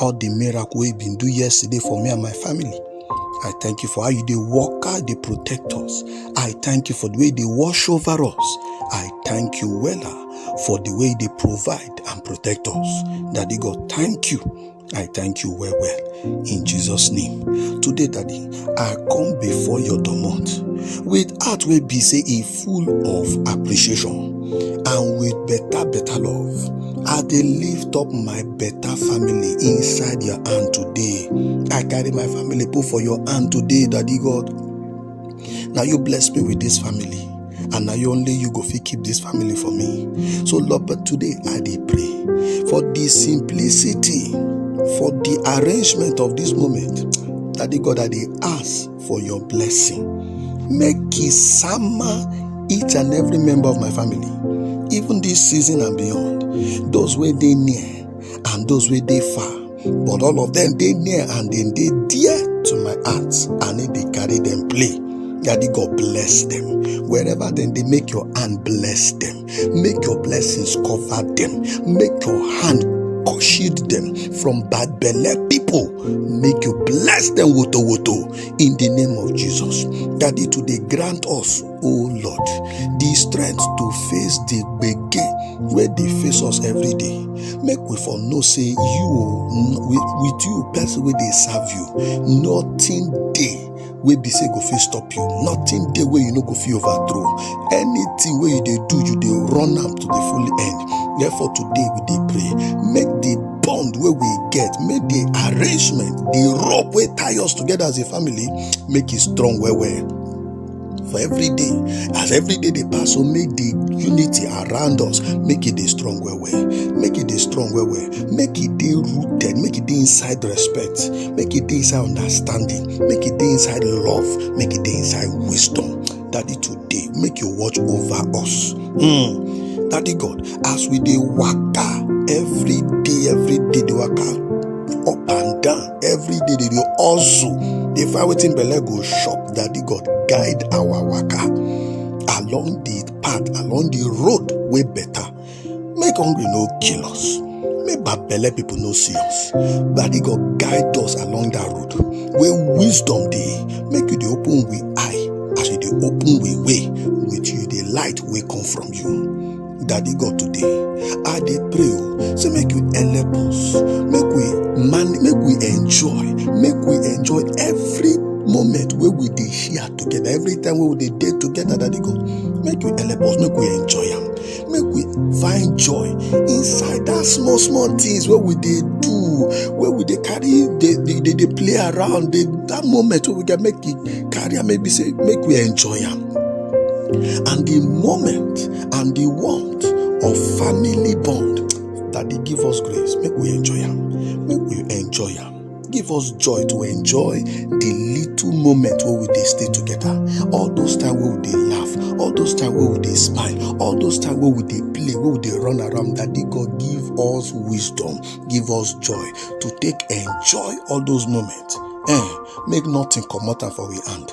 all the miracle wey you been do yesterday for me and my family. I thank you for how you dey walk out, dey protect us. I thank you for the way you dey wash over us. I thank you wella for the way you dey provide and protect us. Daddy God, thank you. I thank you well well. In Jesus' name. Today, Daddy, i come before your domot with heart wey be say e full of appreciation and with better better love i dey lift up my better family inside your hand today i carry my family put for your hand today daddy god na you bless me with this family and na you only you go fit keep this family for me so lord but today i dey pray for the simplicity for the arrangement of this moment daddy god i dey ask for your blessing make e sama each and every member of my family even this season and beyond those wey dey near and those wey dey far but all of them dey near and dem dey dear to my heart and e dey carry dem play daddy god bless them wherever dem dey make your hand bless them make your blessings cover them make your hand shield them from bad belle people make you bless them woto woto in the name of jesus daddy today grant us oh lord the strength to face the gbege wey dey face us every day make we for know say you o n- with, with you person wey dey serve you nothing dey wey be say go fit stop you nothing dey wey you no go fit overthrow anything wey you dey do you dey run am to the full end therefore today we dey pray make the bond wey we get make the arrangement the rope wey tie us together as a family make e strong well well for every day as every day dey pass so make the unity around us make e dey strong well well make e dey strong well well make e dey rooted make e dey inside respect make e dey inside understanding make e dey inside love make e dey inside wisdom daddy today make you watch over us hmm. daddy god as we dey waka every day every day dey waka up and down every day they dey hustle dey find wetin belle go chop daddy god guide our waka along the path along the road wey better make hungry no kill us make bad belle people no see us daddy god guide us along that road wey wisdom dey make you dey open we eye as you dey open we way with you dey light wey come from you Daddy God today, I dey pray o, say make you help us, make we man, make we enjoy, make we enjoy every moment wey we dey share together, every time wey we dey dey together, Daddy God, make you help us, make we enjoy am, make we find joy inside that small small things wey we dey do, wey we dey carry, dey dey dey dey play around, dey that moment wey we get make e carry am, make be say make we enjoy am, and the moment and the warmth of family bond. Daddy, give us grace. Make we enjoy am. Make we enjoy am. Give us joy to enjoy the little moment where we dey stay together. All those time where we dey laugh, all those time where we dey smile, all those time where we dey play, where we dey run around. Daddy God, give us wisdom, give us joy to take enjoy all those moments. Eh, make nothing comot am for we hand.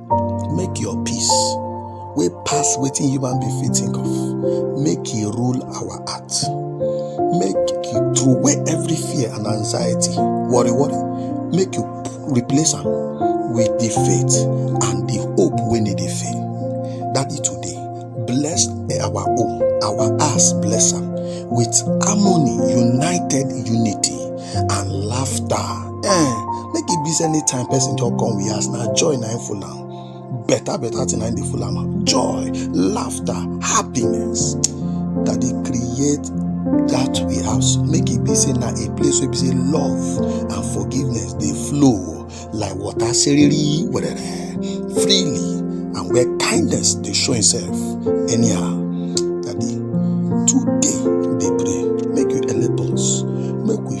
make your peace wey pass wetin human being fit think of make e rule our heart make you throw away every fear and anxiety worry worry make you replace am with the faith and the hope wey no dey fail daddy today bless our home our house bless am with harmony united unity and laughter eh make e be say anytime person just come we ask na joy na im full am better better thing na im dey full am am joy laughter happiness that dey create that we house make e be say na a place wey be say love and forgiveness dey flow like water seriri werere freely and where kindness dey show himself anyhow daddy today dey pray make you help us make we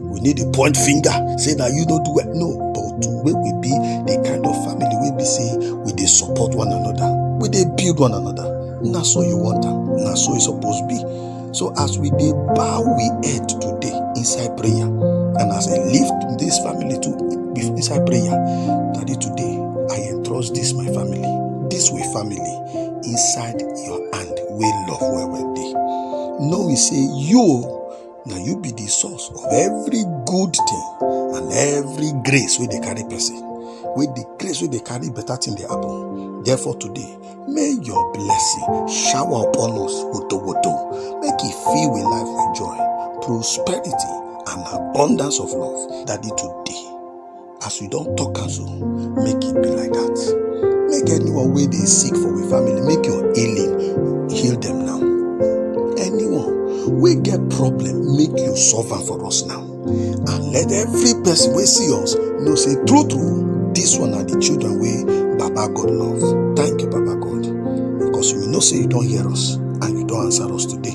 we need to point finger say na you no do well no but wey we be the kind of family wey be say we dey support one another we dey build one another na so you want am na so e suppose be so as we dey bow we head today inside prayer and as i lift this family to inside prayer daddy today i entrust this my family this way family inside your hand wey love well well dey know we say you na you be the source of every good thing and every grace wey dey carry person wey the grace wey dey carry better thing dey happen therefore today may your blessing shower upon us woto woto make e fill we life with joy prosperity and abundance of love daddy today As we don talk am so, make it be like that. Make anyone wey dey sick for we family, make your healing heal them now. Anyone wey get problem, make you solve am for us now. And let every person wey see us know say true true, this one are the children wey Baba God love. Thank you, Baba God, because we know say you don hear us and you don answer us today.